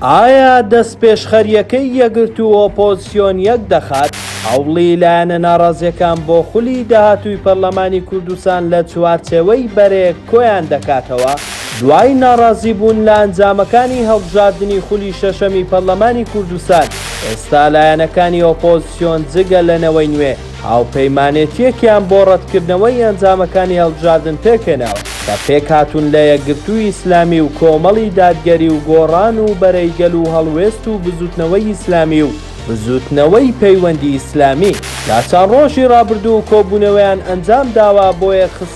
ئایا دەستپێشخەرییەکەی یەکگرتوو و ئۆپۆزسیۆن یەک دەخات، هەوڵی لایەنە ناڕازییەکان بۆ خولی داهاتووی پەرلەمانی کوردستان لە چوارچێوەی بەرەیەک کۆیان دەکاتەوە، دوای ناڕازیبوون لە ئەنجامەکانی هەڵبژاردنی خولی شەشەمی پەرلەمانی کوردستان، ئێستا لایەنەکانی ئۆپۆزسیۆن جگە لە نەوەی نوێ، هاوپەیمانێتییەکیان بۆ ڕەتکردنەوەی ئەنجامەکانی هەڵبژاردن پێکهێناوە، کە پێکهاتوون لە یەکگرتووی ئیسلامی و کۆمەڵی دادگەری و گۆڕان و بەرەی گەل و هەڵوێست و بزووتنەوەی ئیسلامی و بزووتنەوەی پەیوەندی ئیسلامی. لە چەند ڕۆژی ڕابردوو کۆبوونەوەیان ئەنجامداوە بۆ یەکخستنی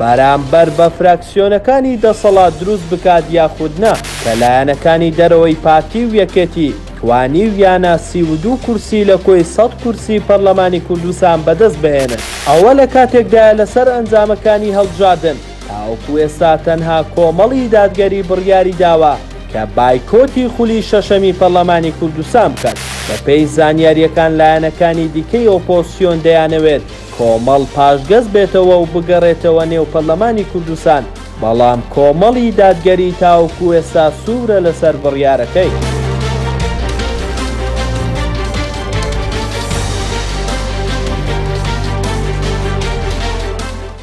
بەرامبەر بە فراکسیۆنەکانی دەسەڵات دروست بکات یاخود نا، کە لایەنەکانی دەرەوەی پارتی و یەکێتی توانیویانە سی و دوو کورسی لە کۆی سەد کورسی پەرلەمانی کوردستان بەدەست بهێنن. ئەوە لە کاتێکدایە لەسەر ئەنجامەکانی هەڵبژاردن تاوەکو ئێستا تەنها کۆمەڵی دادگەری بڕیاری داوە کە بایکۆتی خولی شەشەمی پەرلەمانی کوردستان بکات. بەپێی زانیارییەکان لایەنەکانی دیکەی ئۆپۆزسیۆن دەیانەوێت، کۆمەڵ پاشگەز بێتەوە و بگەڕێتەوە نێو پەرلەمانی کوردستان، بەڵام کۆمەڵی دادگەری تاوەکو ئێستا سوورە لەسەر بڕیارەکەی.